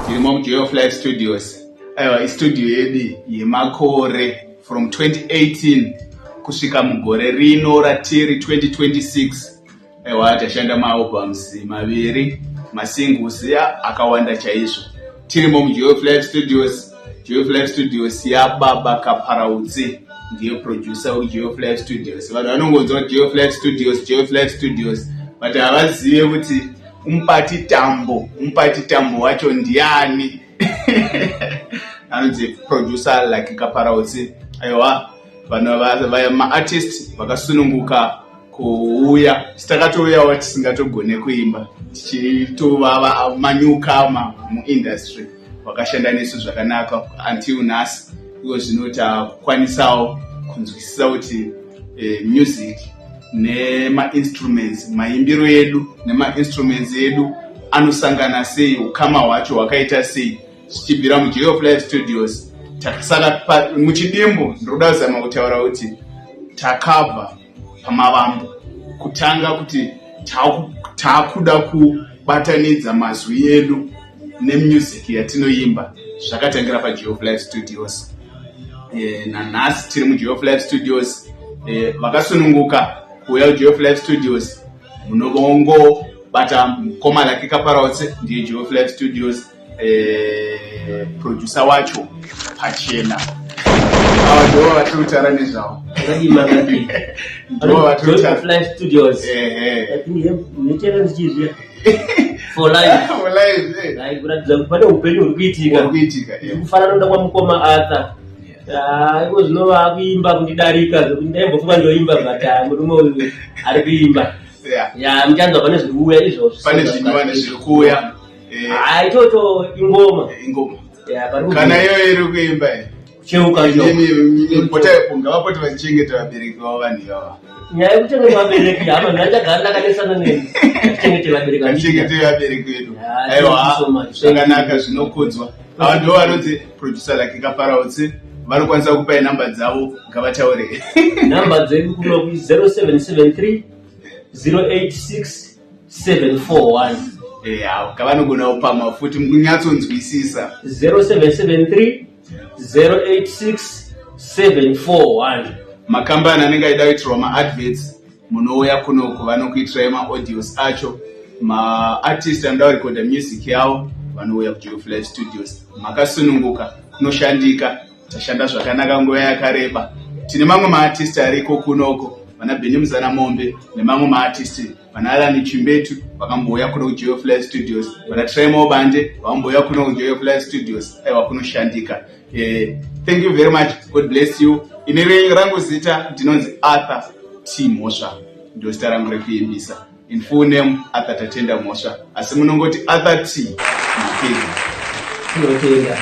Ndimo muJoy of Life Studios. Aiwa istudio yedu yemakore from 2018 kusvika mugore rino ratiri 2026. Aiwa tashanda maalbums maviri masingles ya akawanda chaizvo. Tirimo muJoy of Life Studios. Joy of Life Studios yababa Kaparautsi ndiye producer weJoy of Life Studios. Vanhu vanongonzwa Joy of Life Studios, Joy of Life Studios but havazive kuti umupati tambo umupati tambo wacho ndiani anonzi producer like kaparautsi aiwa vanhu vaya maartist vakasununguka kuuya sitakatouyawo tisingatogone kuimba tichitovava manyukama muindustry wakashanda nesu zvakanaka until nhasi iko zvino takwanisawo kunzwisisa kuti eh, music nemainstruments maimbiro edu nemainstruments edu anosangana sei ukama hwacho hwakaita sei zvichibvira mujoy of life studios takasara muchidimbo ndinoda kuzama kutaura kuti takabva pamavambo kutanga kuti taakuda kubatanidza mazwi edu nemusic yatinoimba zvakatangira pajehof life studios e, nanhasi tiri mujehof life studios e, vakasununguka kuuya kujehof life studios munovongobata mukoma lake kaparautse ndiye jehof life studios eh, producer wacho pachena ava ndivo vatiri kutaura nezvavo ndivo vatiri kutaura studios ndichere ndichizviya for life for life eh. kuratidza kuti pane upenyu huri kuitika kuitika kufanana noda kwamukoma arthur Ah, iko zvino vakuimba kundidarika zvekuti ndaimbofunga ndoimba but ah, murume uyu ari kuimba ya muchanzwa pane zviri kuuya izvozvo pane zvinova nezviri kuuya Eh. Ah, ichocho ingoma ingoma kana iyoyo iri kuimba cheukapotaipongavapote vachichengeta vabereki vavo vanhu ivava nyaya yekuchengeta vabereki hama mhai ndagara ndakanesana neni tichengete vabereki vatichengete vabereki vedu ah, aiwa zvakanaka zvinokudzwa ava ndo vanoti producer lake kaparautse vanokwanisa kupai nhamba dzavo ngavataure nhamba dzedu kuno ku 0773 086 741 eya kavanogona kupama futi munyatsonzwisisa 0773 086 741 makambani anenge aida kuitirwa maadverts munouya kunoku vanokuitirai maaudios acho maartist anoda kurekoda music yavo vanouya kujoyofly studios makasununguka kunoshandika tashanda zvakanaka nguva yakareba tine mamwe maartist ariko kunoko vana bheni muzana mombe nemamwe maartist vana alani chimbetu vakambouya kuno kujoyo fly studios vana trimo bande vakambouya kuno kujoyo fly studios aiwa kunoshandika eh, thank you very much god bless you ine rangu zita ndinonzi arthur t mhosva ndo zita rangu rekuimbisa in full name arthur tatenda mhosva asi munongoti arthur t mapedza